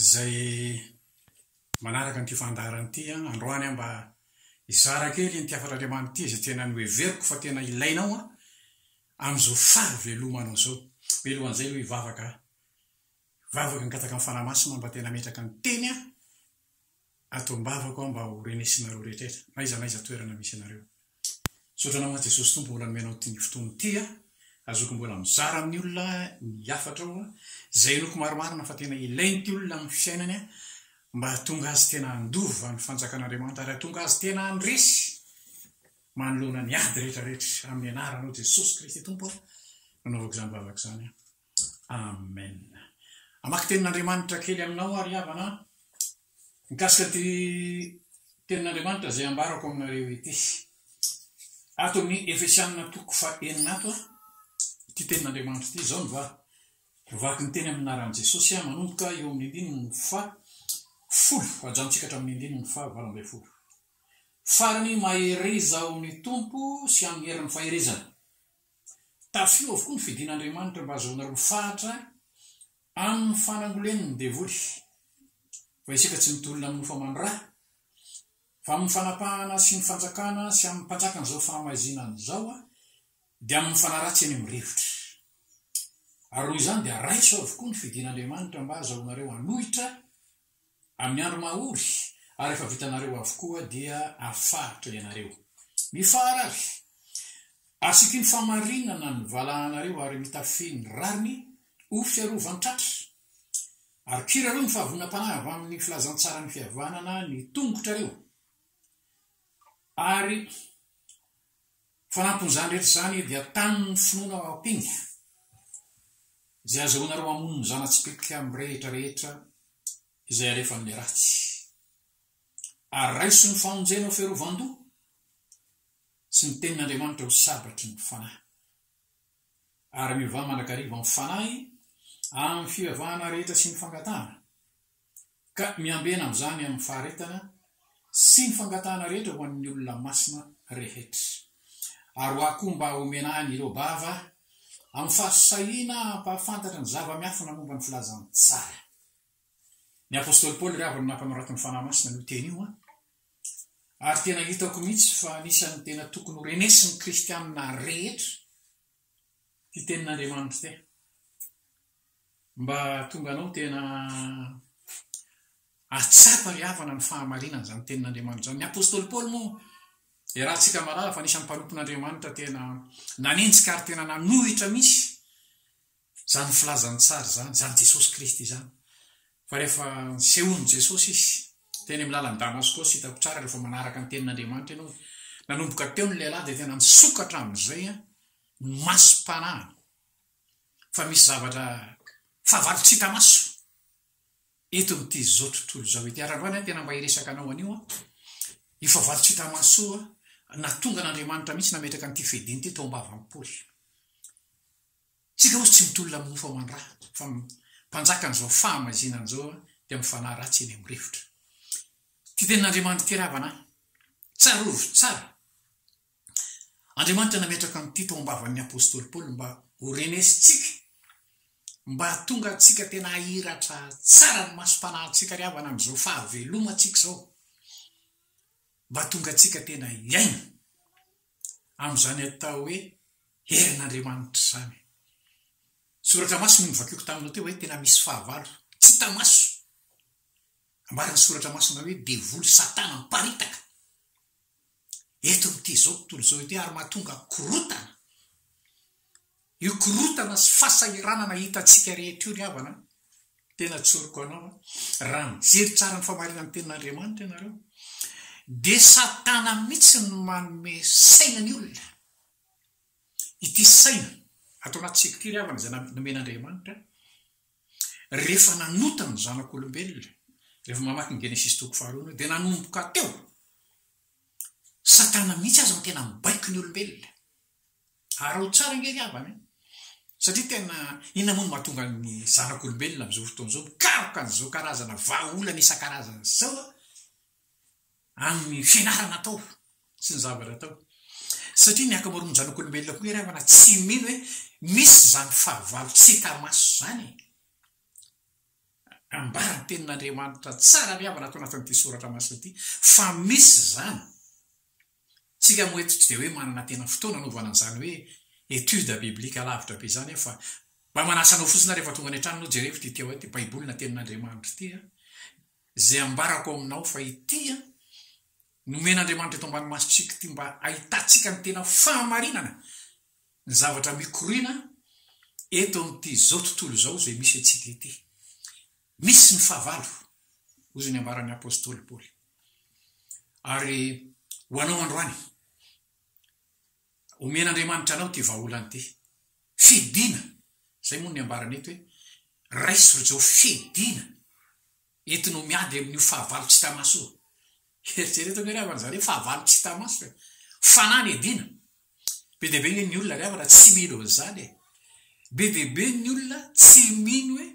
izay manaraka an'ity fandaharana ity androany aho mba hizara kely ity hafatr'Andriamanitra ity izay tena noheveriko fa tena ilainao amin'izao fahavelomanao izao. Mialohan'izay aloha hivavaka aho. Hivavaka hangataka ny Fanahy Masina mba tena hametraka ny Teny aho ato am-bavako aho mba ho renesinareo rehetrrehetra, n'aiza n'aiza toerana misy anareo. Misaotra anao aho Jesosy Tompo mbola nomenao ity fotoana ity aho aho zoky mbola mizara amin'ny olona ny hafatrao aho izay henoko marimarina fa tena ilain'ity olona amin'ny fisainany aho mba hahatonga azy tena handova ny fanjakan'Andriamanitra ary hahatonga azy tena handresy manoloana ny ady rehetrarehetra amin'ny anaranao Jesosy Kristy Tompo aho nanaovako izany vavaka izany aho. Amen. Hamaky tenin'Andriamanitra kely aminao ary havana mikasika ity tenin'Andriamanitra izay ambarako aminareo ity. Ato amin'ny Efesianina toko fa enina ato a, ity tenin'Andriamanitra ity izao no va vaky ny teny amin'ny naran'i Jesosy a, manomboka eo amin'ny andininy fa folo, hajanontsika hatramin'ny andininy fa valo ambin'ny folo. Farany mahereza ao amin'ny Tompo sy amin'ny herin'ny faherezany. Tafio avokoa ny fidin'Andriamanitra mba hahazoanareo fahatra amin'ny fanangolen'ny devoly, fa isika tsy mitolona amin'ny nofo aman-dra, fa amin'ny fanapahana sy ny fanjakana sy amin'ny mpanjakan'izao fahamaizinana izao, dia amin'ny fanaratsy eny amin'ny rivotra. Ary noho izany dia raiso avokoa ny fidin'Andriamanitra mba hahazahoanareo hanohitra Amin'ny andro mahory ary efa vitanareo avokoa dia afaritra ianareo. Mifahara avy! Asiako iny fahamarinana ny valahanareo ary mitafy ny rariny ho fiarovan-tratra. Ary kirareo ny fahavononam-panahy avy amin'ny filazantsaran'ny fihavanana ny tongotrareo, ary Fanampin'izany rehetra izany dia tamin'ny finoana ao am-pinga, izay azahoanareo mamono ny zana-tsipelika amin'ny rehitra rehetra izay alefan'ny ratsy, ary raiso ny famonjena ho fiarovan-doha sy ny tenin'Andriamanitra ho sabatry ny fanahy. Ary miovà mandrakariva amin'ny fanahy, amin'ny fivavahana rehetra sy ny fangatahana, ka miambena amin'izany amin'ny faharetana sy ny fangatahana rehetra ho an'ny olona masina rehetra. Ary ho ahy koa mba homena ahy an'ireo bava amin'ny fahasahiana hampahafantatra ny zava-miafina momba ny filazantsara. Ny apostoly Paoly ry havana nampanoratin'ny Fanahy Masina an'io teny io an! Ary tena hitako mihitsy fa anisan'ny tena tokony ho renesin'ny kristiana rehetra ity tenin'Andriamanitra ity. Mba hahatonga anao tena hahatsapa ry havana ny fahamarinan'izany tenin'Andriamanitra izany. Ny apostoly Paoly moa, iarahantsika malala fa anisan'ny mpanompon'Andriamanitra tena nanenjika ary tena nanohitra mihitsy izany filazan'ny tsara izany, izany Jesosy Kristy izany. Fa rehefa nisehoan'i Jesosy Izy, teny amin'ny lalan'i Damasko, tsy hitako tsara rehefa manaraka ny tenin'Andriamanitra ianao, nanomboka teo ny lehilahy dia tena nisokatra amin'izay ny masom-panahiny, fa misy zavatra fahavalo tsy hita maso eto amin'ity izao tontolo izao ity. Ary androany aho tena mba hiresaka anao an'io an, io fahavalo tsy hita maso io an, nahatonga an'Andriamanitra mihitsy nametraka an'ity fediana ity tao am-bavan'i Paoly. Tsy ilay ozy tsy mitolona amin'ny mofo aman-draha fa ny mpanjakan'izao fahamaizinana izao dia mifanahy ratsy eny amin'ny rivotra. Ity tenin'Andriamanitra ity ravana ahy. Tsarovy tsara. Andriamanitra nametraka an'ity tao am-bavan'ny apostoly Paoly mba ho renesintsika, mba hahatonga antsika tena hahiratra tsara ny masom-panahintsika ry havana amin'izao fahavelomantsika izao, mba hahatonga antsika tena hiaina. amin'izany atao hoe herin'Andriamanitra izany. Soratra masina io novakiako taminao teo hoe tena misy fahavalo tsy hita maso. Ambaran'ny soratra masina hoe devoly satana miparitaka eto amin'ity izao tontolo izao ity ary mahatonga korontana Io korontana sy fahasahiranana hitantsika rehetra io ry havana a! Tena tsoriko anao a! Raha mijery tsara ny famarinan'ny Tenin'Andriamanitra ianareo dia Satana mihitsy no manome saina ny olona. Ity saina ato anatintsika ity ry havana izay nomen'Andriamanitra rehefa nanota ny zanak'olombelona, rehefa mamaky ny Genesisy toko faharoa ianao dia nanomboka teo, Satana mihitsy aza no tena mibaiko ny olombelona. Araho tsara ange ry havana e! Satria tena inona moa no mahatonga ny zanak'olombelona amin'izao fotoana izao mikaroka an'izao karazana vahaolana isan-karazany izao amin'ny fianarana atao sy ny zavatra atao. Satria ny ankamaroan'ny zanak'olombelona koa ry havana tsy mino hoe misy izany fahavalo tsy hita maso izany e! Ambara ny tenin'Andriamanitra tsara ry havana ato anatin'ity soratra masina ity fa misy izany. Tsika moa eto tsy dia hoe manana tena fotoana anaovana an'izany hoe étude biblique alavitra be izany aho fa mba manasa anao fotsiny aho rehefa tonga any an-trano ianao jerevo ity Téo ity Baiboly na Tenin'Andriamanitra ity a! Izay ambarako ao aminao fa ity a! Nomen'Andriamanitra eto ambany masontsika ity mba hahitantsika ny tena fahamarinana ny zavatra mikoriana eto amin'ity izao tontolo izao izay misy antsika ity. Misy ny fahavalo, hoy izay niambaran'ny apostoly Paoly. Ary ho anao androany, omen'Andriamanitra anao ity vahaolana ity. Fidina, izay moa no niambarany eto hoe, raiso ry Joa, fidina, entinao miady amin'io fahavalo tsy hita maso io. Eritrereto ve ry havana izany hoe fahavalo tsy hita maso e? Fanahy ny edina, Be dia be anie ny olona ry havana tsy mino an'izany e! Be dia be ny olona tsy mino hoe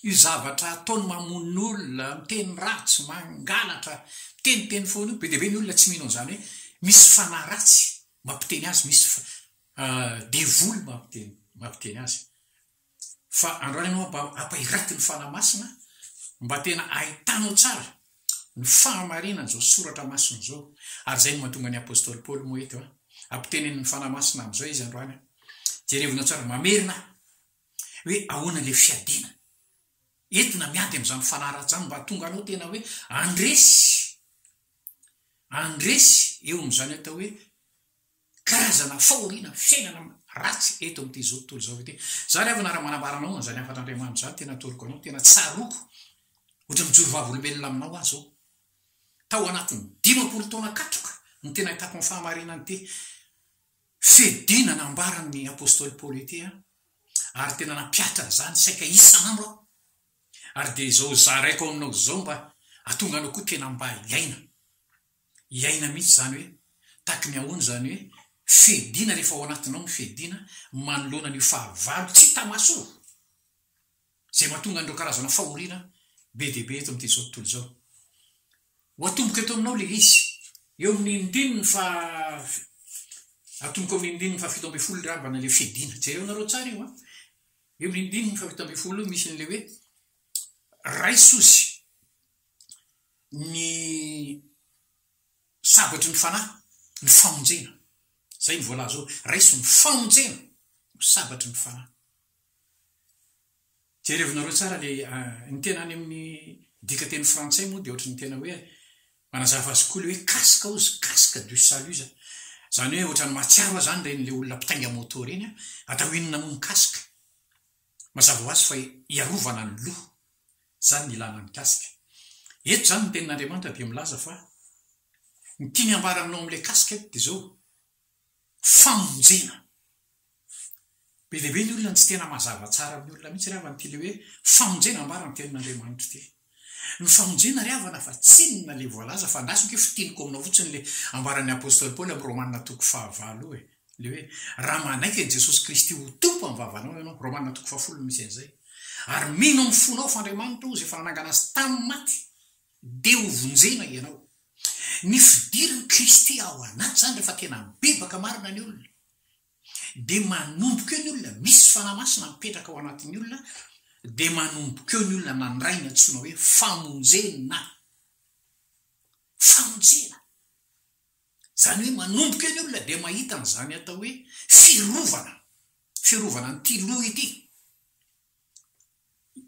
io zavatra ataony mamono olona, miteny ratsy, mangalatra, miteniteny foana io, be dia be ny olona tsy mino an'izany hoe misy fanahy ratsy mampiteny azy, misy devoly mampiteny azy. fa andao ianao mba hampairaty ny Fanahy Masina mba tena hahitanao tsara ny fahamarinan'izao soratra masina izao, ary izay no mahatonga ny Apostoly Paoly moa eto an, ampitenenin'ny Fanahy Masina amin'izao izy androany an, jerevinao tsara, mamerina aho, hoe ahoana ilay fiadiana entina miady amin'izany fanahy ratsy izany mba hahatonga anao tena hoe handresy, handresy eo amin'izany atao hoe karazana fahoriana fiainana ratsy eto amin'ity izao tontolo izao ity. Izaho ry havana raha manambara anao an'izany hafatr'Andriamanitra izany, tena atoroko anao, tena tsaroako, ohatra mijoro vavolombelona aminao aho izao. Tao anatin'ny dimampolo taona katroka no tena ahitako ny fahamarinan'ity fiadiana nambaran'ny apostoly Paoly ity aho, ary tena nampihatra an'izany saika isan'andro aho. Ary dia izao zaraiko aminao izao mba hatonga anao koa tena mba hiaina. iaina mihitsy izany hoe taky ny ahoana izany hoe fediana rehefa ao anatinao ny fediana manoloana an'io fahavalo tsy hita maso io izay mahatonga an'ireo karazana fahoriana be dia be eto amin'ity izao tontolo izao. Ho atomboka eto aminao ilay izy. Eo amin'ny ndininy faha atomboka eo amin'ny ndininy fahafito ambin'ny folo ilay rambana ilay fediana. Jereo nareo tsara io an! Eo amin'ny ndininy fahafito ambin'ny folo io misy an'ilay hoe raiso izy. ny sabatry ny fanahy, ny famonjena. Izay no voalaza hoe, raiso ny famonjena ho sabatry ny fanahy. Jerevinareo tsara ilay, ny tena any amin'ny dikanteny frantsay moa dia ohatry ny tena hoe, manazava azy koa ilay hoe casque hozy, casque du salut izany. Izany hoe ohatran'ny mahatsiaro ahy izany ireny ilay olona mpitainga moto ireny an, atao inona moa ny casque? Mazava ho azy fa hiarovana ny loha. Izany no ilana mikasika. Eto izany ny tenin'Andriamanitra dia milaza fa ny tiany hambara aminao amin'ilay kasika eto dia izao, famonjena. Be dia be ny olona no tsy tena mazava tsara amin'ny olona mihitsy re havana ity ilay hoe famonjena ambara ny tenin'Andriamanitra ity. Ny famonjena ry havana fa tsinona le voalaza fa andrasako io fitiniko aminao fotsiny le ambaran'ny apostoly paoly amin'ny romana toko fahavalo io e, le hoe raha manaiky an'i jesosy kristy ho tompo amin'ny vavanao ianao, romana toko fahafolo no misy an'izay, ary mino amin'ny fonao f'andriamanitra ozy efa nanangana azy tamin'ny maty dia ho vonjena ianao. Ny fidirin'i kristy ao anaty zany rehefa tena mibebaka marina ny olona dia manomboka eo ny olona, misy Fanahy Masina mipetraka ao anatin'ny olona, dia manomboka eo ny olona nandray ny antsoina hoe famonjena. Famonjena. Izany hoe manomboka eo ny olona dia mahita an'izany atao hoe fiarovana, fiarovana an'ity loha ity.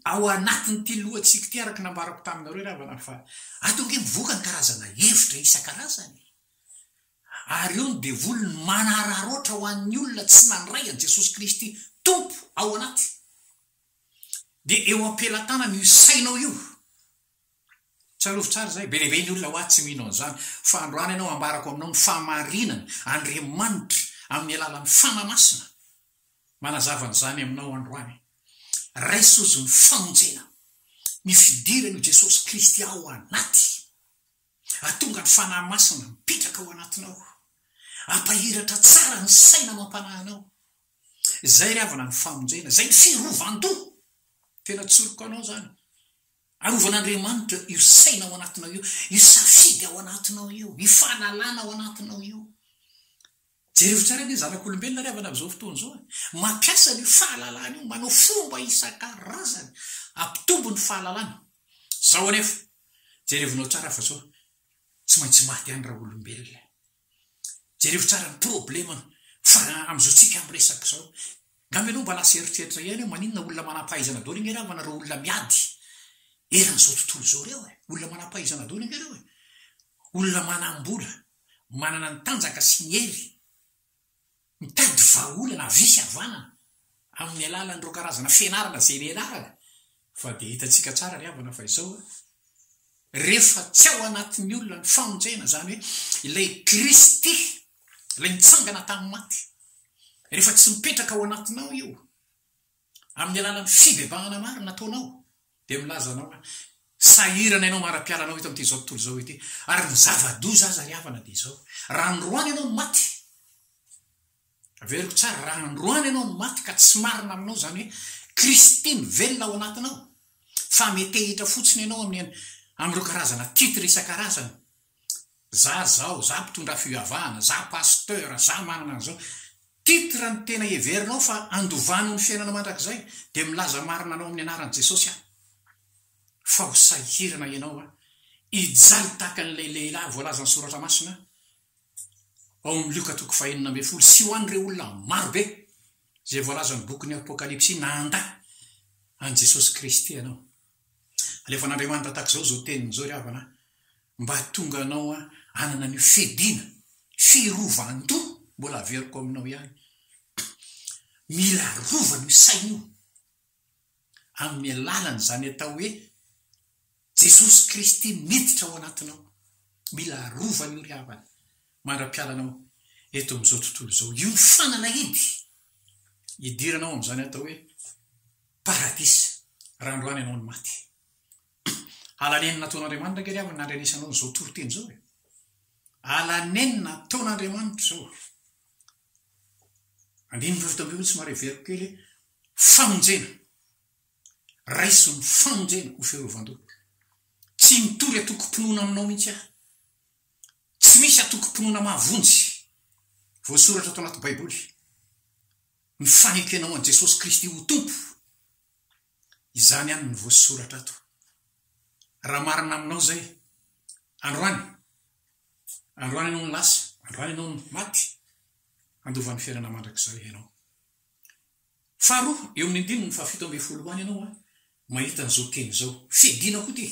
Ao anatin'ity lohantsika ity, araka ny nambarako taminareo ry havana fa ato ange mivoaka ny karazana hevitra isan-karazany e! Ary eo ny devoly no manararaotra ho an'ny olona tsy nandray an'i Jesosy Kristy Tompo ao anaty. Dia eo am-pelatanana io sainao io. Tsarovy tsara izay, be dia be ny olona hoa tsy mino an'izany. Fa androany ianao ambarako aminao ny fahamarinana, Andriamanitra amin'ny alalan'ny Fana Masina Manazava an'izany aminao androany. Raiso izy ny famonjena. Ny fidiran'I Jesosy Kristy ao anaty. Atonga ny Fanahy Masina mipetraka ao anatinao. Ampahiratra tsara ny saina amam-panahy anao. Izay ry havana ny famonjena. Izay ny firovan-doha. Tena tsoriko anao izany. Arovan'Andriamanitra io saina ao anatinao io. Io safidy ao anatinao io. Io fahalalana ao anatinao io. Jerevo tsara anie zanak'olombelona ry havana amin'izao fotoana izao e! Mampiasa an'io fahalalana io manao fomba isan-karazany hampitombo ny fahalalana. Sao anefa, jerevinao tsara fa sao tsy maintsy maty ihany raha olombelona e! Jerevo tsara ny problema fa amin'izao tsika miresaka izao. Ngamba ianao mba lasa eritreritra ihany hoe maninona olona manam-pahaizana daholo ange ravana ireo olona miady eran'izao tontolo izao ireo e! Olona manam-pahaizana daholo ange ireo e! Olona manam-bola manana ny tanjaka sy ny hery mitady vahaolana avia sy havanana amin'ny alalan'ireo karazana fianarana izay nianarany fa dia hitantsika tsara ry havana fa izao a, rehefa tsy ao anatin'ny olona ny famonjena izany hoe ilay Kristy ilay nitsangana tamin'ny maty rehefa tsy mipetraka ao anatinao io, Amin'ny alalan'ny fibebahana marina ataonao, dia milaza anao hoe, Sahirana ianao mara-piala anao eto amin'ity izao tontolo izao ity, ary ny zava-doza aza ry havana dia izao, raha androany ianao no maty, averiko tsara, raha androany ianao no maty ka tsy marina aminao izany hoe Kristy no velona ao anatinao, fa metehitra fotsiny ianao amin'ny amin'ireo karazana titre isan-karazany za zao, za mpitondra fivavahana, za pasteur, za manana an'izao. Titre ny tena heverinao fa andovano ny fiainana mandrakizay dia milaza marina anao amin'ny anaran'i Jesosy aho fa ho sahirana ianao an, hijaly tahaka an'ilay lehilahy voalazan'ny soratra masina ao amin'ny Lioka toko fahenina ambin'ny folo sy ho an'ireo olona marobe izay voalazan'ny bokin'ny Apokalypsy nanda an'i Jesosy Kristy ianao. Alefan'Andriamanitra tahaka izao izao teniny izao, Ry havana a, mba hahatonga anao hanana an'io fiadiana, firovan-doha, mbola haveriko aminao ihany. Mila arovana io saina io amin'ny alalan'izany atao hoe Jesosy Kristy miditra ao anatinao. Mila arovana io, ry havana. mandra-piala anao eto amin'izao tontolo izao hiofanana eny, hidirana ao amin'izany atao hoe paradisa, raha androany ianao no maty. Ala nenina nataon'Andriamanitra ange ry havana nandrenesanao an'izao toriteny izao e. Ala nenina nataon'Andriamanitra izao. Andininy fahavita ambin'ny folo somary heveriko kely famonjena. Raiso ny famonjena ho fiarovan-doha. Tsy mitory atokom-pinoana aminao mihitsy aho. Tsy misy antokom-pinoana mahavonjy voasoratra ato anaty Baiboly mifanekena ho an'i Jesosy Kristy ho Tompo. Izany ihany no voasoratra ato. Raha marina aminao izay, androany, androany ianao no lasa, androany ianao no maty, handova ny fiainana mandrakizay ianao. Faharoa, eo amin'ny andininy fahafito ambin'ny folo ho any ianao mahita an'izao teny izao. Fiadiana koa ity.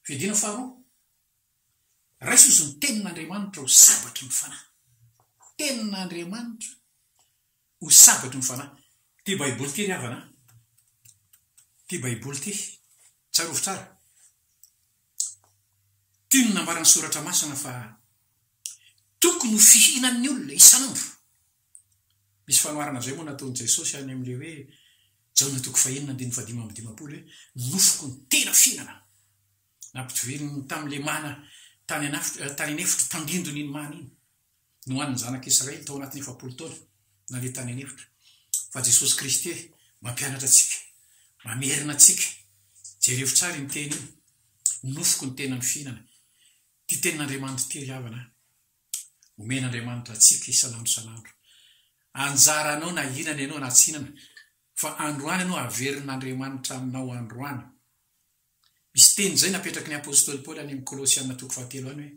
Fiadiana faharoa, Raiso izy ny Tenin'Andriamanitra ho sabatry ny fanahy. Tenin'Andriamanitra ho sabatry ny fanahy. Ity Baiboly ity ry havana an! Ity Baiboly ity, tsarovy tsara. Ity no nambaran'ny Soratra Masina fa tokony ho fihinan'ny olona isan'andro. Misy fanoharana izay moa nataon'i Jesosy any amin'ilay hoe, Jaona toko fahenina andininy fahadimy amby dimampolo hoe, Ny nofoko no tena fihinana. Nampidiriny tamin'ilay mana tany an'afitra, tany an'efitra, tandindona iny mana iny. Nohanin'ny zanaka Israely tao anatin'ny efapolo taona naleha tany an'efitra. Fa Jesosy Kristy mampianatra antsika, mamerina antsika. Jerevo tsara iny teny iny, Ny nofoko no tena ny fihinana. Ity tenin'Andriamanitra ity ry havana a! omen'Andriamanitra antsika isan'andro isan'andro. Anjaranao na hihinana ianao na tsy hihinana, fa androany ianao haverin'Andriamanitra aminao androany. Misy teny izay napetraky ny apostoly Paoly any amin'ny Kolosiana toko fahatelo any hoe,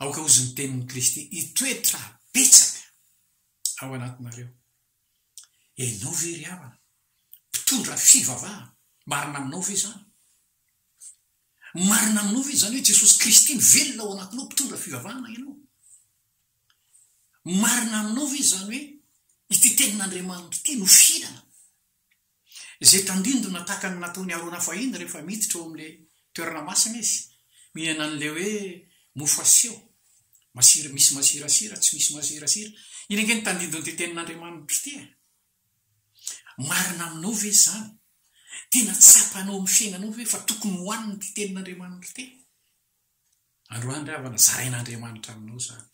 Aoka hozy ny tenin'i Kristy hitoetra betsaka ao anatinareo. Ianao ve ry havana, mpitondra fivavahana marina aminao ve izany? Marina aminao ve izany hoe Jesosy Kristy mivelona ao anatinao mpitondra fivavahana ianao? Marina aminao ve izany hoe ity tenin'Andriamanitra ity no fihinana izay tandindona tahaka ny nataon'i Arona fahiny rehefa miditra ao amin'ilay toerana masina izy, mihinana an'ilay hoe mofo aseho, masira, misy masirasira, tsy misy masirasira? Iny ange no tandindon'ity tenin'Andriamanitra ity e! Marina aminao ve izany? Tena tsapanao amin'ny fiainanao ve fa tokony ho an'ny ity tenin'Andriamanitra ity? Androany ry havana, zarain'Andriamanitra aminao izany.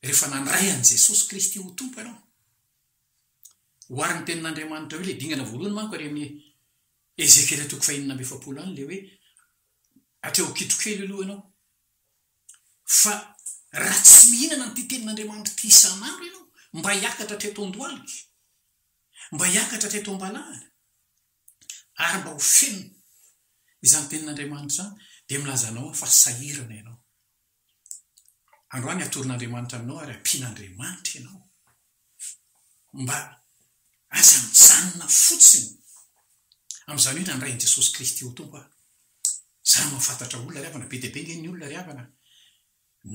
Rehefa nandray an'i Jesosy Kristy ho Tompo ianao, oharin'ny tenin'Andriamanitra eo ilay dingana voalohany manko ary amin'ny Ezekiela toko fahenina amby efapolo any ilay hoe hatreo an-kitrokely aloha ianao fa raha tsy mihinana an'ity tenin'Andriamanitra ity isan'andro ianao, mba hiakatra hatreto an-dohalika, mba hiakatra hatreto am-balahana, ary mba ho feno izany tenin'Andriamanitra izany, dia milaza anao aho fa sahirana ianao. Androany hatoron'Andriamanitra aminao ary hampian'Andriamanitra ianao. Mba aza mijanona fotsiny amin'izany hoe nandray an'i Jesosy Kristy ho Tompo aho. Izaho mahafantatra olona ry havana, be dia be ange ny olona ry havana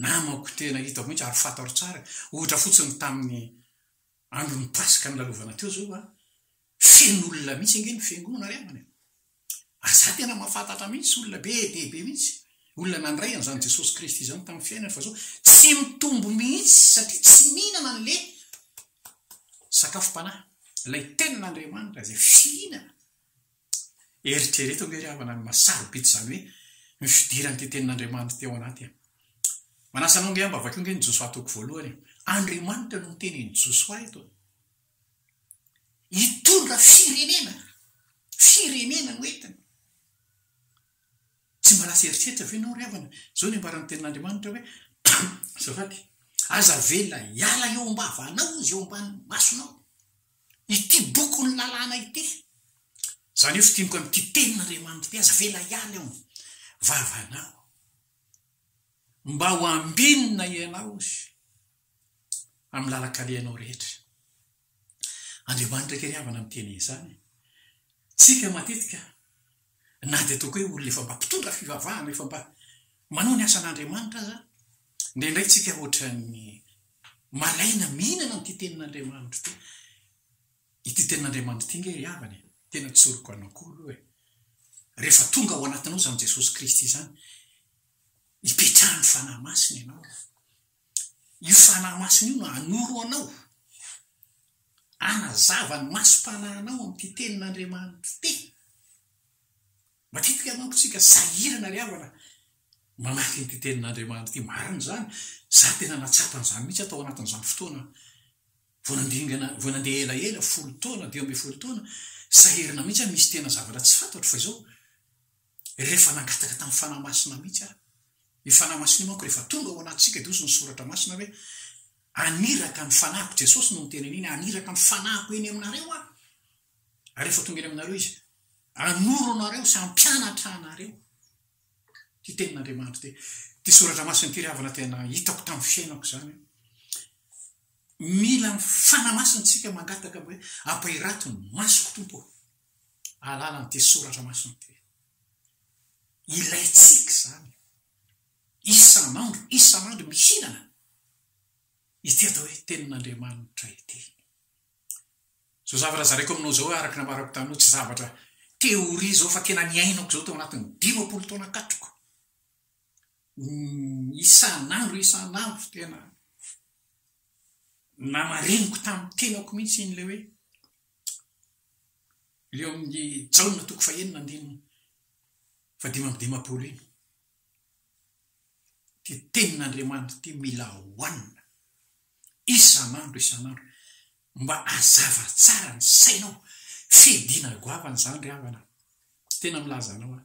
namako tena hitako mihitsy ary fantaro tsara, ohatra fotsiny tamin'ny andron'ny Paska nilalovana teo izao aho, Feno olona mihitsy ange ny fiangonana ry havana e! Ary za tena mahafantatra mihitsy olona be dia be mihitsy, olona nandray an'izany Jesosy Kristy izany tamin'ny fiainany fa zao tsy mitombo mihitsy satria tsy mihinana an'le sakafom-panahy, ilay Tenin'Andriamanitra izay fihinana. Eritrereto ange ry havana ny maha sarobidy izany hoe ny fidiran'ity Tenin'Andriamanitra ity ao anaty an! Manasa anao ange aho mba vakio ange ny Josoa toko voalohany e! Andriamanitra no miteny an'i Josoa eto e! Hitondra firenena, firenena no entiny. Tsy mba lasa eritreritra ve ianao ry havana? Izao ny ambaran'ny Tenin'Andriamanitra hoe, Azafady, aza avela hiala eo am-bavanao izy, eo ambany masonao, ity bokin'ny lalàna ity. Izany hoe fidiniko amin'ity Tenin'Andriamanitra ity, aza avela hiala eo am-bavanao. Mba ho ambinina ianao izy. amin'ny lalan-kalehanao rehetra. Andriamanitra kely havana miteny izany. Tsika matetika, na dia tokoe olona efa mba mpitondra fivavahana, efa mba manao ny asan'Andriamanitra aza, indraindray tsika ohatran'ny malaina mihinana an'ity tenin'Andriamanitra ity. Ity tenin'Andriamanitra ity nge ry havana e, tena tsoriko anao koa aloha e. Rehefa tonga ao anatinao izany Jesosy Kristy izany, ipetrahan'ny Fanahy Masina ianao. Io Fanahy Masina io no hanoro anao hanazava ny masom-panahinao amin'ity Tenin'Andriamanitra ity. Matetika manko isika sahirana ry havana mamaky an'ity Tenin'Andriamanitra ity. Marina izany. Izaho tena nahatsapa an'izany mihitsy aho tao anatin'izany fotoana vao nandringana, vao nandeha elaela, folo taona, dimy ambin'ny folo taona. Sahirana mihitsy aho, misy tena zavatra tsy fantatro fa izao. Rehefa nangataka tamin'ny Fanahy Masina mihitsy aho. Io Fanahy Masina io manko rehefa tonga ao anatintsika dia hozy ny Soratra Masina hoe, Aniraka ny Fanahiko, Jesosy no niteny an'iny, Aniraka ny Fanahiko eny aminareo aho. Ary rehefa tonga eny aminareo Izy, hanoro anareo sy hampianatra anareo. Ity tenin'Andriamanitra ity. Ity Soratra Masina ity ry havana tena hitako tamin'ny fiainako izany. Mila ny Fanahy Masina isika mangataka hoe, Ampahirato ny masoko Tompo. alalan'ity soratra masina ity. Ilaintsika izany isan'andro, isan'andro mihinana ity atao hoe Tenin'Andriamanitra ity. Izao zavatra zareko aminao izao hoe araka ny ambarako taminao, tsy zavatra théorie izao fa tena niainako izao tao anatin'ny dimampolo taona katroka. Isan'andro, isan'andro tena namariniko tamin'ny tenako mihitsy iny ilay hoe Ilay ao amin'ny Jaona toko fahenina andininy fahadimy amby dimampolo iny. Ity tenin'Andriamanitra ity mila hohanina isan'andro isan'andro mba hazava tsara ny sainao. Fidiana goavana izany ry havana. Tena milaza anao aho.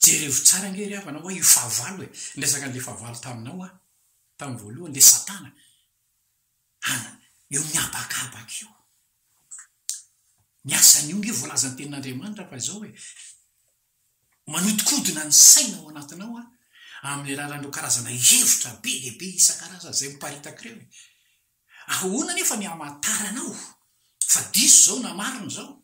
Jerevo tsara ange ry havana hoa io fahavalo e. Niresaka an'ilay fahavalo taminao aho tamin'ny voalohany, ilay Satana. Any eo mihabakabaka eo. Ny asan'io nge voalazan'ny tenin'Andriamanitra fa izao hoe, manodikodina ny saina ao anatinao aho amin'ny alalan'ireo karazana hevitra be dia be isan-karazany izay miparitaka ireo e. Ahoana anefa ny hamantaranao fa diso izao na marina izao?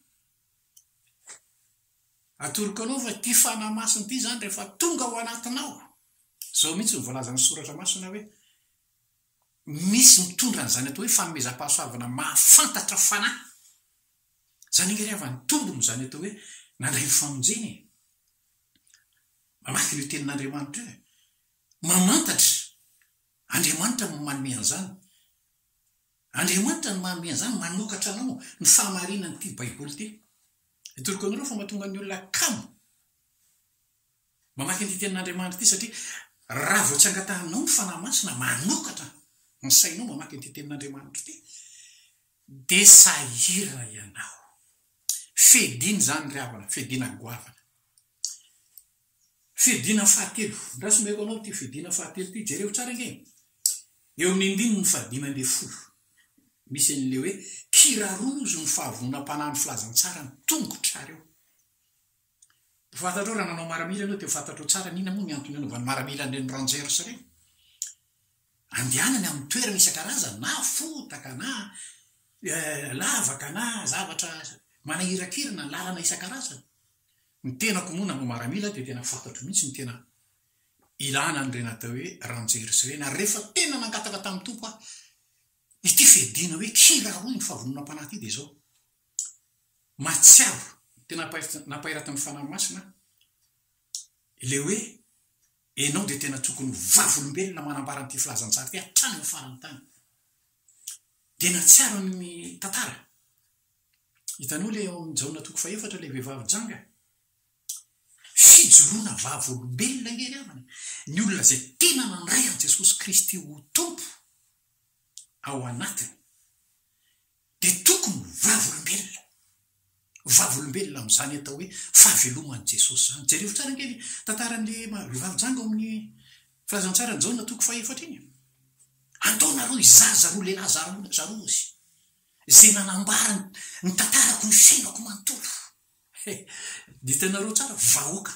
Atoroko anao fa ity Fanahy Masina ity izany rehefa tonga ao anatinao, izao mihitsy no voalazan'ny Soratra Masina hoe, Misy mitondra an'izany atao hoe fanomezam-pahasoavana mahafantatra fanahy. Izany ange re havan'ny tombony izany atao hoe nandray ny famonjena e! Mamaky an'io Tenin'Andriamanitra io e! Mamantatra! Andriamanitra no manome an'izany. Andriamanitra no manome an'izany, manokatra anao ny fahamarinan'ity Baiboly ity. Hitoriko anareo fa mahatonga ny olona kamo. Mamaky an'ity tenin'Andriamanitra ity satria raha vao tsy angatahanao ny Fanahy Masina manokatra ny sainao mamaky an'ity tenin'Andriamanitra ity dia sahirana ianao. Fiadiana izany ry havana, fiadiana goavana. Fiadiana fahatelo, ndraso omeko anao ity fiadiana fahatelo ity, jereo tsara ange. Eo amin'ny andininy fahadimy ambin'ny folo, misy an'ilay hoe, kirarozo ny fahavononam-panahin'ny filazantsara ny tongotrareo. Ho fantatrao raha nanao maramila ianao dia ho fantatrao tsara ny inona moa ny antony nanaovany maramila an'ireny rangers ireny. Andehanany amin'ny toerana isan-karazany na fotaka na lavaka na zavatra manahirakirana, lalana isan-karazany. Ny tenako moa nanao maramila dia tena fantatro mihitsy ny tena ilana an'ireny atao hoe rangers ireny ary rehefa tena nangataka tamin'ny Tompo aho Ity fedena hoe kiraroy ny fahavononam-panahy ity dia izao, mahatsiaro, tena nampahiratin'ny Fanahy Masina aho, ilay hoe ianao dia tena tokony ho vavolombelona manambara an'ity filazantsara ity hatrany amin'ny faran'ny tany. Dia nahatsiaro ny tantara. Hitanao ilay ao amin'ny Jaona toko fahefatra ilay vehivavy janga? Fijoroana vavolombelona ange ry havana e! Ny olona izay tena nandray an'i Jesosy Kristy ho Tompo ao anatiny dia tokony ho vavolombelona. Vavolombelona amin'izany atao hoe fahaveloman'i Jesosy izany. Jereo tsara ange ny tantaran'ilay vehivavy janga ao amin'ny Filazantsaran'i Jaona toko fahaefatra iny. Andaonareo hizaza ireo lehilahy zaroana zarozy izay nanambara ny tantarako ny fiainako manontolo. He, ditinareo tsara, vahoaka,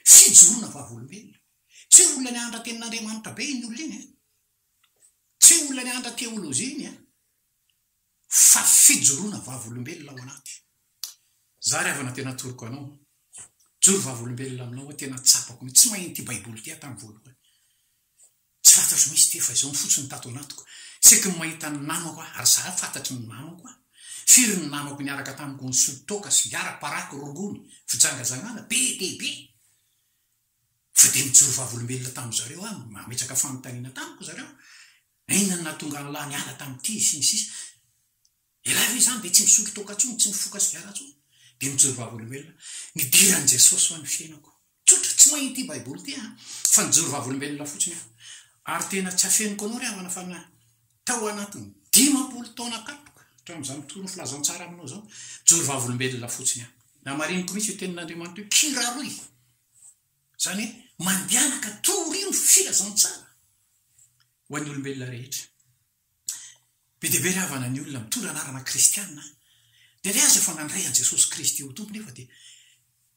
fijoroana vavolombelona. Tsy hoe olona nianatra tenin'Andriamanitra be iny olona iny e. Tsy olona nianatra teolojia iny an! Fa fijoroana vavolombelona ao anaty. Za ry havana tena atoroko anao. Mijoro vavolombelona aminao aho tena tsapako mihitsy. Tsy maheno ity baiboly ity aho tamin'ny voalohany. Tsy fantatro mihitsy ity fa izao fotsiny tato anatiko. Saiky ny mahita ny namako aho ary za fantatry ny namako aho. Firy ny namako niaraka tamiko nisolo toaka, sigara, paraky, rongony, fijangajangana be dia be. Fa dia nijoro vavolombelona tamin-dry zareo aho, nametraka fanontaniana tamiko ry zareo, Inona no nahatonga an'lah niala tamin'ity? sy ny sisa Ialahy ve izany dia tsy misolo toaka intsony, tsy mifoka sigara intsony? Dia nijoro vavolombelona, Nidiran'i Jesosy ho an'ny fiainako. Tsotra, tsy mahay ity Baiboly ity aho, fa nijoro vavolombelona fotsiny aho. Ary tena tsy afeniko anao ry havana fa na. Tao anatin'ny dimampolo taona katroka hatramin'izany fotoana filazantsara aminao izao, mijoro vavolombelona fotsiny aho. Namariniko mihitsy io tenin'Andriamanitra io, kiraroy. Izany hoe mandehanaka, torio ny filazantsara ho an'ny olombelona rehetra. Be dia be ry havana ny olona mitondra anarana kristiana, dia ilay azy efa nandray an'i Jesosy Kristy ho Tompo nefa dia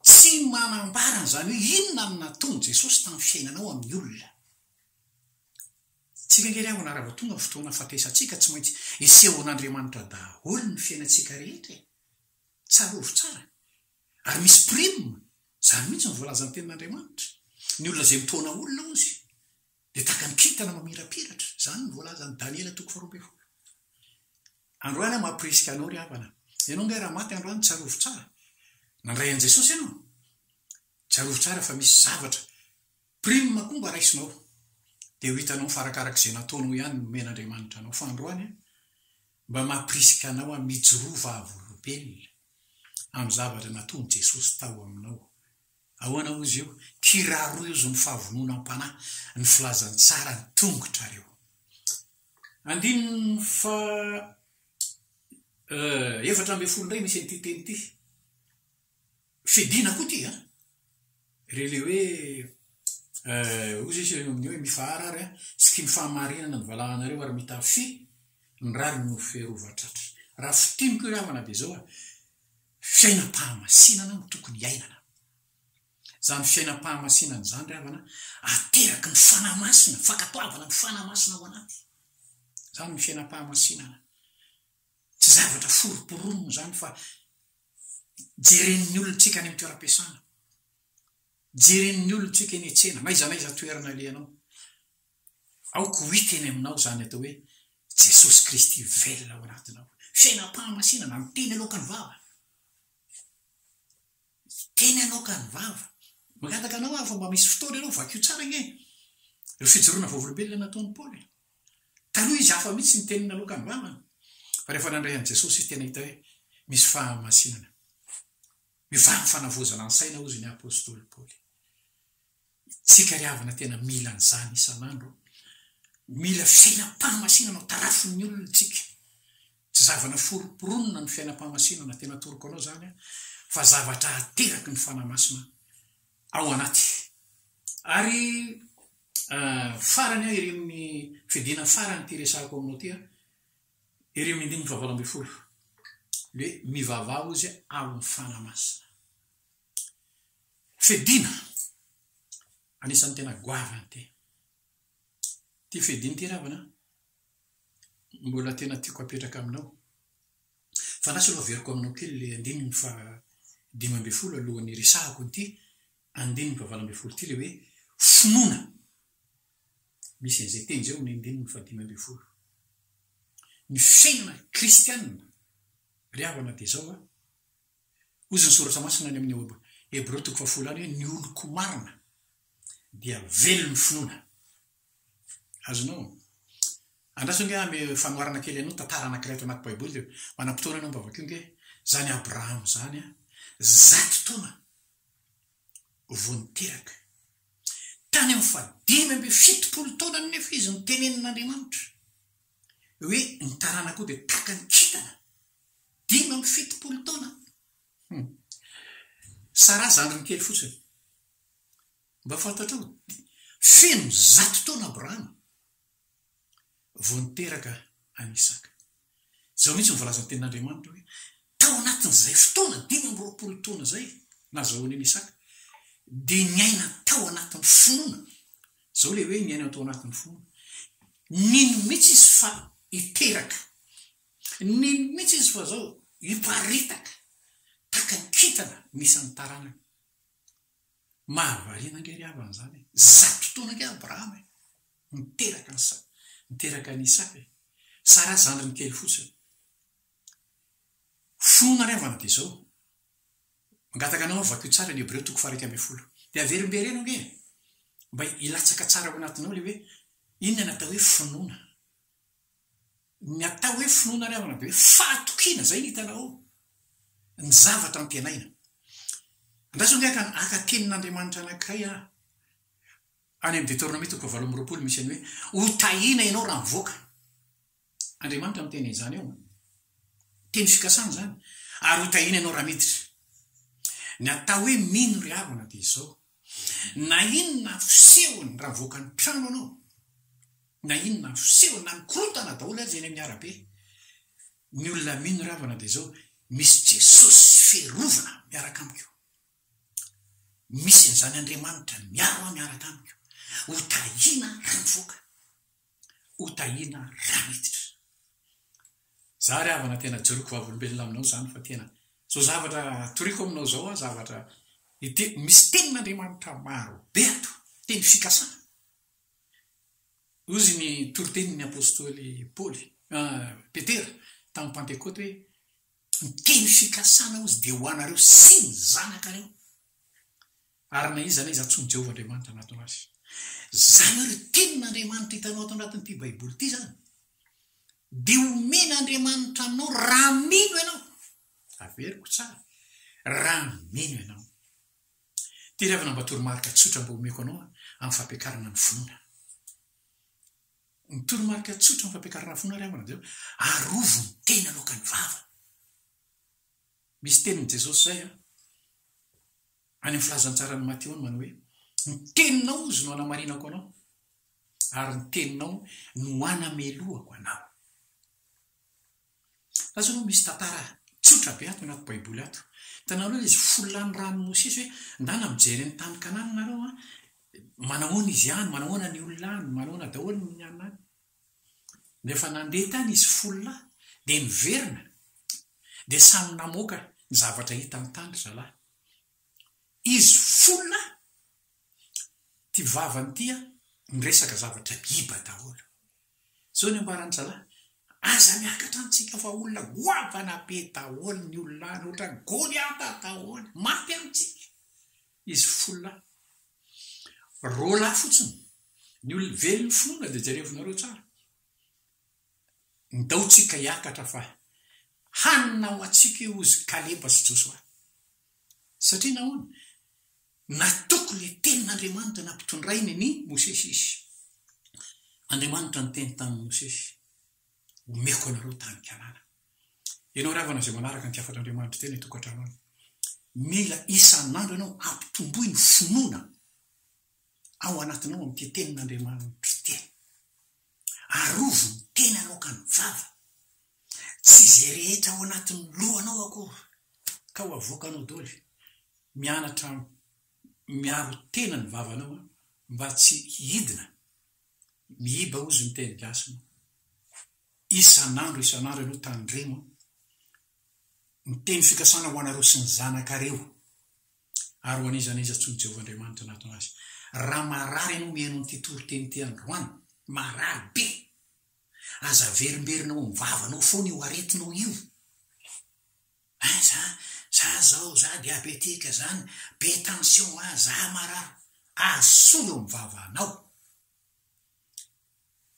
tsy manambara an'izany hoe inona no nataon'i Jesosy tamin'ny fiainanao amin'ny olona. Tsy rery aho na raha vao tonga ny fotoana fampiasantsika tsy maintsy esehon'Andriamanitra daholo ny fiainantsika rehetra e! Tsarovy tsara ary misy prime, izany mihitsy no voalazan'ny tenin'Andriamanitra, ny olona izay mitaona olona hozy dia tahaka ny kintana mamirapiratra, izany no voalazan'i Daniela toko faharoa ambin'ny folo. Androany aho mampirisika anao ry havana, ianao ange raha maty androany tsarovy tsara, nandray an'i Jesosy ianao, tsarovy tsara fa misy zavatra, Prime koa mba raisinao dia ho hitanao fa arakaraka izay nataonao ihany no nomen'Andriamanitra anao fa androany an, mba mampirisika anao an mijoroa vavolombelona amin'ny zavatra nataon'i Jesosy tao aminao. Ahoana hozy io? Kirarozo ny fahavononam-panahy ny filazantsara ny tongotrareo. Andininy faha efatra ambin'ny folo indray misy an'ity teny ity. Fidina koa ity an! Re le hoe eh, hoy zay sireny amin'io hoe mifahara ary an, tsy tim fahamarinana ny valahanareo ary mita fi ny rariny no ferova tratra. Raha fintiniko ry havana de zao an, fiainam-pahamasinana no tokony hiainana. Zany fiainam-pahamasinana zany ry havana ateraky ny fanahy masina, fankatoavana ny fanahy masina ao anaty. Zany ny fiainam-pahamasinana. Tsy zavatra foroporonina izany fa jeren'ny olontsika any amin'ny toeram-piasana, jeren'ny olontsika eny an-tsena, n'aiza n'aiza toerana alehanao. Aoka ho hita eny aminao izany atao hoe Jesosy Kristy velona ao anatinao. Fiainam-pahamasinana, ny teny aloakan'ny vava. Ny teny aloakan'ny vava. Mangataka anao aho fa mba misy fotoana ianao, vakio tsara ange ireo fijoroana vavolombelona nataon'i Paoly. Taloha izy hafa mihitsy ny teniny naloka ny ramany, fa rehefa nandray an'i Jesosy izy tena hita hoe misy fahamasinana. Mivaro ny fanavaozana ny saina hozy ny apostoly Paoly. Isika ry havana tena mila an'izany isan'andro. Mila fiainam-pahamasinana ho tarafin'ny olona isika. Tsy zavana foronporonina ny fiainam-pahamasinana, tena atoroko anao izany aho, fa zavatra ateraky ny Fanahy Masina ao anaty. Ary Farany aho ery amin'ny fidiana farany ity resahako aminao ity an, ery amin'ny andininy fahavalo ambin'ny folo, le mivavaha hozy aho amin'ny Fanahy Masina. Fidiana anisan'ny tena goavana ity. Ity fidiana ity ravana an, mbola tena tiako apetraka aminao. Fa na tsy aloha averiko aminao kely le andininy faha dimy ambin'ny folo alohan'ny hiresahako an'ity andininy valo ambin'ny folo ity ilay hoe finoana. Misy an'izay teny izay ao amin'ny andininy fahadimy ambin'ny folo. Ny fiainana kristianina, ry havana, dia izao a. Hoy izy ny Soratra Masina any amin'ny Hebreo toko fahafolo any hoe ny oloko marina dia velon'ny finoana. Azonao? Andraso ange amy fanoharana kely anao tantara anankiray ato anaty Baiboly, manam-potoana ianao mba vakio ange, izany Abrahama izany, zato taona vao niteraka. Tany amin'ny fahadimy amby fitopolo taonany anefa izy no tenenin'Andriamanitra hoe ny taranakao dia tahaka ny kintana. Dimy amby fitopolo taona. Hum. Sara zandriny kely fotsiny. Mba fantatrao? Feno zato taona Abrahama vao niteraka an'i Isaka. Izao mihitsy no voalazan'ny Tenin'Andriamanitra hoe, Tao anatin'izay fotoana dimy amby roapolo taona izay nazahoany an'i Isaka, dia niaina tao anatin'ny finoana. Izao ilay hoe niaina tao anatin'ny finoana. Nino mihitsy izy fa hiteraka. Nino mihitsy izy fa izao hiparitaka tahaka ny kintana ny isan'ny taranany. Mahavariana ange ry havana izany e! Zato taona ange Abrahama e! Niteraka an'i Sara, niteraka an'i Isaka e! Sara zandriny kely fotsiny. Finoana ry havana dia izao, mangataka anao vakio tsara ny Hebreo toko faha-iraika ambin'ny folo, dia averimbereno ange e! Mba hilatsaka tsara ao anatinao ilay hoe inona no atao hoe finoana. Ny atao hoe finoana ry havana dia hoe fahatokiana, izay no hitanao ao, ny zavatra antenaina. Andraso ange haka haka tenin'Andriamanitra anankiray aho, any amin'ny Deteronomia toko fahavalo amby roapolo misy an'ny hoe, Ho tahiana ianao raha mivoaka. Andriamanitra no miteny an'izany ao. Teny fikasana izany. Ary ho tahiana ianao raha miditra. Ny atao hoe mino ry havana dia izao, Na inona fisehony raha mivoaka ny trano anao, na inona fisehony na mikorontana daholo aza eny amin'ny arabe ny olona mino ravana dia izao misy Jesosy fiarovana miaraka amiko, misy an'izany Andriamanitra miaro ahy miaraka amiko, ho tahiana raha mivoaka. ho tahiana raha miditra. Za ry havana tena joriko vavolombelona aminao zany fa tena zao zavatra toriko aminao zao an zavatra misy tenin'Andriamanitra maro be ato teny fikasana. Ozy ny toritenin'ny apostoly Paoly ah, Petera tamin'ny Pantekoty hoe ny teny fikasana ozy dia ho anareo sy ny zanakareo. Ary na iza na iza antsoin'i Jehovah Andriamanitra anatona azy. Izany hoe ry Tenin'Andriamanitra hitanao ato anatin'ity Baiboly ity izany, dia homen'Andriamanitra anao raha mino ianao. Averiko tsara, raha mino ianao. Ity ry havana mba toromarika tsotra mba homeko anao amin'ny fampiakarana ny finoana. Ny toromarika tsotra amin'ny fampiakarana ny finoana ry havana dia arovy ny tena aloakan'ny vava. Misy tenin'i Jesosy izay any amin'ny filazantsaran'i Mateo no manao hoe, Ny teninao izy no hanamarinako anao, ary ny teninao no hanamelohako anao. Lazao aloha misy tantara tsotra be ato anaty Baiboly ato. Hitanareo ilay izy folo lahy nirahan'i Mosesy hoe, Ndana mijery ny tany Kanana nareo an, manahoana izy any, manahoana ny olona any, manahoana daholo ny any. Rehefa nandeha tany izy folo lahy dia niverina dia samy namoaka ny zavatra hitany tany zalahy. Izy folo lahy ty vavany ty an miresaka zavatra miiba daholo. Zao ny ambaran'ny zalahy, aza miakatra amintsika fa olona goavana be daholo ny olona any ohatran'i Goliata daholo. Maty amintsika. Izy folo lahy. Roa lahy fotsiny. Ny olona very ny finoana dia jerevinareo tsara. Ndaotsika hiakatra fa hanina ho antsika io hozy Kaleba sy Josoa. Satria nahoana? Natoky ilay tenin'Andriamanitra nampitondrainy ny Mosesy izy. Andriamanitra niteny tamin'i Mosesy, Omeko anareo tany Kanana. Ianao ry havana izay manaraka ny hafatr'Andriamanitra teny an-tokantrano any, mila isan'andro ianao ampitomboy ny finoana ao anatinao amin'ity tenin'Andriamanitra ity. Arovy ny tenanao ka ny vava, tsy izay rehetra ao anatin'ny lohanao akory ka ho avoakanao doly. Mianatra miaro tena ny vavanao mba tsy hidina mihiba hozy ny teny gasy moa. Isan'andro isan'andro ianao tandremo an! Ny teny fikasana ho anareo sy ny zanakareo ary ho an'iza n'iza antsoin'i Jehovah Andriamanitra hanatona azy. Raha marary ianao mihaino an'ity toriteny ity androany, marary be, aza averimberina ao amin'ny vavanao foana io aretinao io. Ay, za, za zao, za diabetika, za be tension, a, za marary. Asolo eo amin'ny vavanao.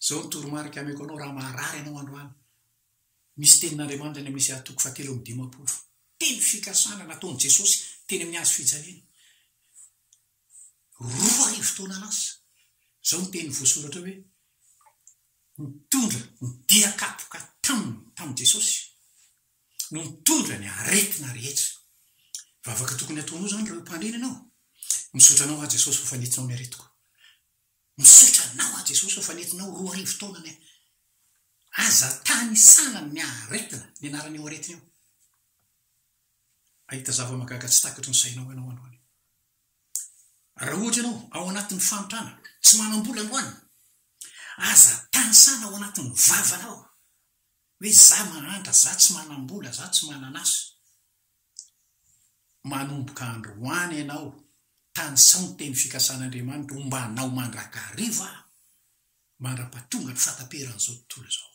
Izao no toromarika hameko anao raha maharary ianao androany. Misy tenin'Andriamanitra any amin'ny Isaiah toko fahatelo amby dimampolo. Teny fikasana nataon'i Jesosy teny amin'ny hazo fijaliana, roa arivo taona lasa. Izao no teny voasoratra hoe, Nitondra ny dia kapoka taminy, tamin'i Jesosy, no nitondra ny aretina rehetra. Vavaka tokony hataonao izany raha ho mpandrina ianao. Misaotra anao aho Jesosy fa fanitsinao ny aretiko. Misaotra anao aho Jesosy fa nentinao roa arivo taona ny ahy. Aza tanisana ny aretina, ny anaran'io aretina io. Hahita zava-mahagaga tsy takatry ny sainao ianao androany. Raha ohatra ianao ao anatin'ny fanotrana, tsy manam-bola androany, aza tanisana ao anatin'ny vavanao hoe za mahantra, za tsy manam-bola, za tsy manan'asa. Manomboka androany ianao tanisaho ny teny fikasan'Andriamanitra hombanao mandrakariva aho, mandrapatonga ny fataperan'izao tontolo izao.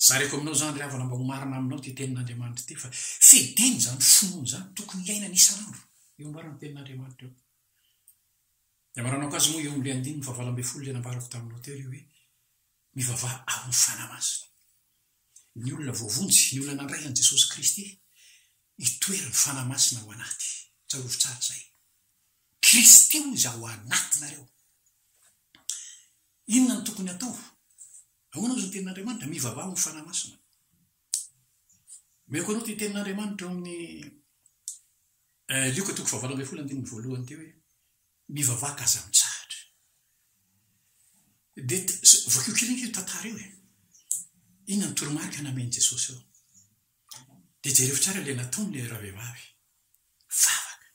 Zareko aminao izany ry havana mba ho marina aminao ity tenin'Andriamanitra ity fa fidiny izany finoana izany tokony hiainana isan'andro eo ambaran'ny tenin'Andriamanitra eo. Ny amaranao kajy moa eo amin'ny andininy fahavalo ambin'ny folo dia nambarako taminao teo ilay hoe. Mivavaha ao amin'ny Fanahy Masina. Ny olona voavonjy, ny olona nandray an'i Jesosy Kristy, hitoeran'ny Fanahy Masina ao anaty. Tsarovy tsara izay. Kristy hoy izy ao anatinareo. Inona no tokony hatao? Ahoana moa izany tenin'Andriamanitra? Mivavaha ao amin'ny Fanahy Masina. Omeko anao ity tenin'Andriamanitra ao amin'ny eh, Lioka toko fahavalo ambin'ny folo andininy voalohany ity hoe Mivavaka aza mitsahatra. Dia vakio kely ange io tantara io e. Inona ny toromarika namen'i Jesosy eo? Dia jereo tsara ilay nataon'ilay ravehivavy. Vavaka.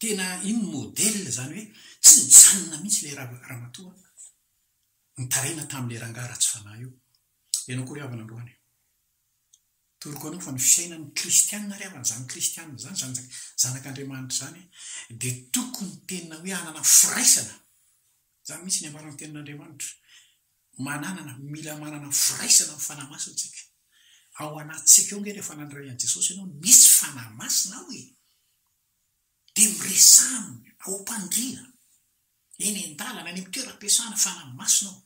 Tena iny modèle izany hoe tsy nijanona mihitsy ilay ramatoa nitaraina tamin'ilay rangahy ratsy fanahy io. Ianao koa ry havana androany. Toroko anao fa ny fisainan'ny kristiana ary havana izany kristiana izany, izany zanak'Andriamanitra izany, dia tokony tena hoe hanana firaisana, izany mihitsy ny ambaran'ny tenin'Andriamanitra, mananana, mila manana firaisana amin'ny Fanahy Masina isika. Ao anatintsika ao nge rehefa nandray an'i Jesosy ianao, nisy Fanahy Masina ao e! Dia miresaha aminy ao am-pandriana, eny an-dalana, any amin'ny toeram-piasana, Fanahy Masina ao.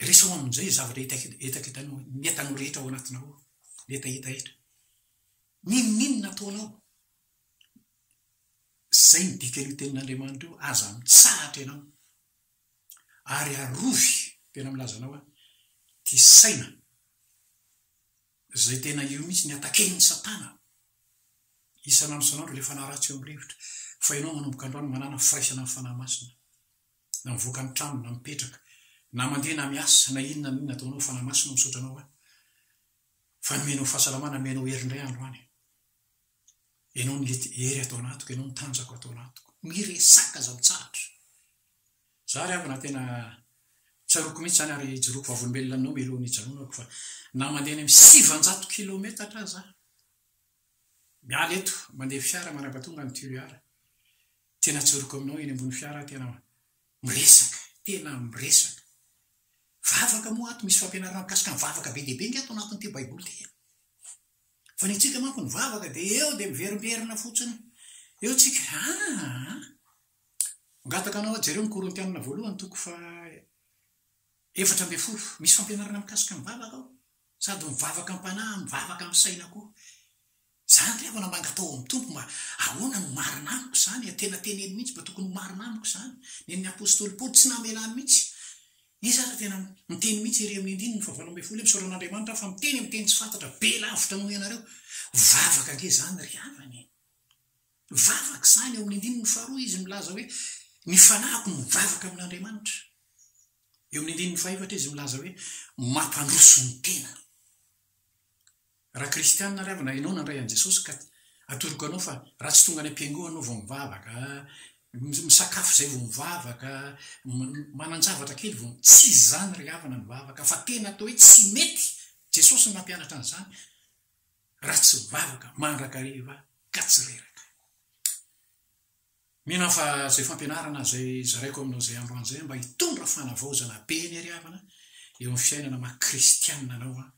Resaho amin'izay izay zavatra hetaketanao, ny entanao rehetra ao anatinao ao, ny hetaheta rehetra. N'inon'inona ataonao, izay no dikan'io tenin'Andriamanitra io, aza mitsahatra ianao, ary arovy, tena milaza anao aho, ity saina izay tena io mihitsy ny ataken'i Satana isan'andro isan'andro ilay fanahy ratsy eo amin'ny rivotra, fa ianao manomboka androany manana firaisana amin'ny Fanahy Masina. na mivoaka ny trano na mipetraka na mandeha na miasa na inona na inona ataonao fanahy masina misaotra anao aho fa nomenao fahasalamana nomenao hery indray andro any ianao ny hery ato anatiko ianao ny tanjako ato anatiko miresaka aza mitsahatra za ry havana tena tsaroko mihitsy zany ary jeroko vavolombelona aminao mialoha ny janonako fa na mandeha any amin'ny sivanjato kilometatra za miala eto mandeha fiara managatonga ny turiara Tena tsoriko aminao eny ambony fiara tena miresaka tena miresaka vavaka moa ato misy fampianarana mikasika ny vavaka be dia be nge ato anatin'ity baiboly ity e! fa ny antsika manko ny vavaka dia eo dia miverimberina fotsiny eo tsika aa mangataka anao aho jereo ny korintianina voalohany toko fa efatra ambin'ny folo misy fampianarana mikasika ny vavaka ao sady mivavaka am-panahy mivavaka amin'ny saina koa Izany ry havana mba natao ao amin'ny Tompo mba ahoana no marina amiko izany? Tena teneno mihitsy mba tokony ho marina amiko izany. Nen'ny apostoly Paoly tsy namelany mihitsy. Izy ary tena niteny mihitsy ery amin'ny andininy fahavalo ambin'ny folo hoe misaotra an'Andriamanitra aho fa miteny amin'ny teny tsy fantatra be lavitra noho ianareo. Vavaka ange izany ry havana e! Vavaka izany, eo amin'ny andininy faharoa izy milaza hoe ny fanahiko no mivavaka amin'Andriamanitra. Eo amin'ny andininy fahaefatra izy milaza hoe mampandroso ny tenany. Raha kristiana ary havana ianao nandray an'i Jesosy ka atoroko anao fa raha tsy tonga any am-piangoana aho vao mivavaka, misakafo izay vao mivavaka, manan-javatra kely vao, tsy izany ry havana ny vavaka fa tena atao hoe tsy mety, Jesosy no nampianatra an'izany, raha tsy mivavaka mandrakariva ka tsy reraka. Mino aho fa izay fampianarana izay zaraiko aminao izay androany izay mba hitondra fanavaozana be ny ary havana eo amin'ny fiainana maha kristianina anao an,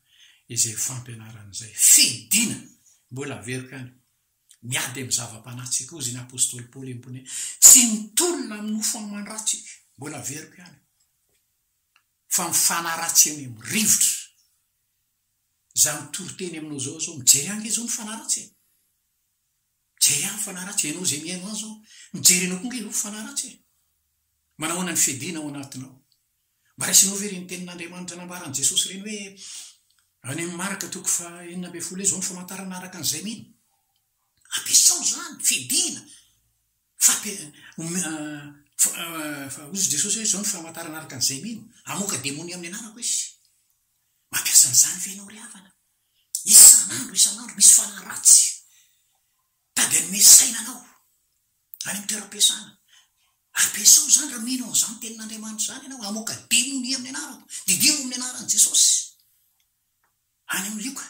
izay fampianarana izay. Fidina! Mbola averiko ihany, miady amin'ny zava-panahy-tsy koa hozy ny apostoly Paoly empony hoe, tsy mitolona amin'ny nofo aman-dratsy, mbola averiko ihany, fa ny fanahy ratsy eny amin'ny rivotra. Izaho mitory teny aminao izao izao, mijery ange izao ny fanahy ratsy e! Mijery ahy ny fanahy ratsy e, ianao izay mihaino azy aho, mijery anao koa ange ianao fanahy ratsy e! Manahoana ny fiadiana ao anatinao? Mba raisinao ve ireny tenin'Andriamanitra nambaran'i Jesosy ireny hoe any amin'ny Marka toko faha enina ambin'ny folo hoe izao ny famantarana araka an'izay mino? Ampiasao izany, fiadiana, fampi, ome, ah, fa, hozy Jesosy hoe izao ny famantarana araka an'izay mino, hamoaka demonia amin'ny anarako izy. Mampiasa an'izany ve ianao ry havana? Isan'andro isan'andro misy fanahy ratsy tady hanome saina anao any amin'ny toeram-piasana. Ampiasao izany raha mino an'izany tenin'Andriamanitra izany ianao. Hamoaka demonia amin'ny anarako. Diniho amin'ny anaran'i Jesosy. Any amin'ny Lioka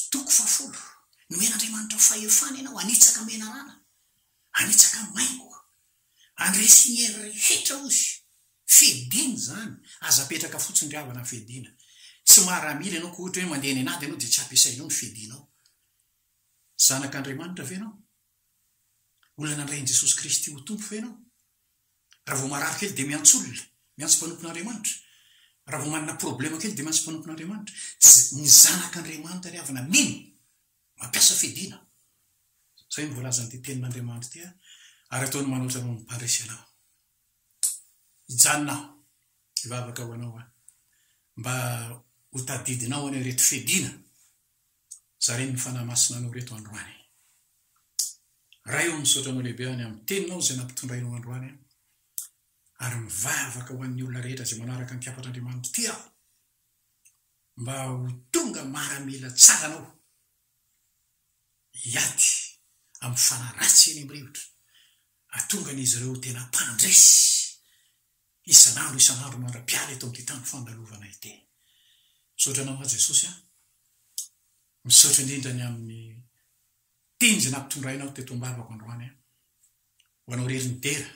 toko fahafolo, nomen'Andriamanitra fahefana ianao hanitsaka menarana, hanitsaka maingoka. Andresy ny hery rehetra hozy. Fedina izany. Aza apetraka fotsiny ry havana ny fedina. Tsy maramila ianao ka ohatra hoe mandeha any an'ady ianao dia tsy ampiasainao ny fedinao. Zanak'Andriamanitra ve ianao? Olona nandray an'i Jesosy Kristy ho Tompo ve ianao? Raha vao marary kely dia miantso olona, miantso mpanompon'Andriamanitra. Raha vao manana problema kely dia miantso mpanompon'Andriamanitra. Ny zanak'Andriamanitra ry havana mino. Mampiasa fiadiana. Izay no voalazan'ity tenin'Andriamanitra ity, Ary ataony manoatra anao ny mpandresy anao. Hijanona aho, hivavaka ho anao aho, mba hotadidinao anio ireto fiadiana zarin'ny Fanahy Masina anao ireto androany. Ray ô, misaotra anao lehibe any amin'ny teninao izay nampitondrainao androany, ary mivavaka ho an'ny olona rehetra izay manaraka ny kiafatr'Andriamanitra ity aho. mba ho tonga maramila tsara anao hiady amin'ny fanahy ratsy eny amin'ny rivotra, hahatonga an'izy ireo ho tena mpandresy isan'andro isan'andro mandra-piala eto amin'ity tany fandalovana ity. Misaotra anao aho Jesosy a! Misaotra indrindra ny amin'ny teny izay nampitondrainao teto am-bavako androany a! Ho anao irery ny dera,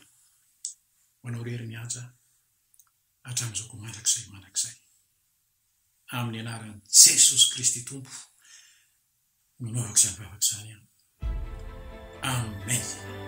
ho anao irery ny haja, hatramin'izao koa mandrakizay mandrakizay. Amin'ny anaran'i Jesosy Kristy Tompo no anaovako izany vavaka izany an. Amen.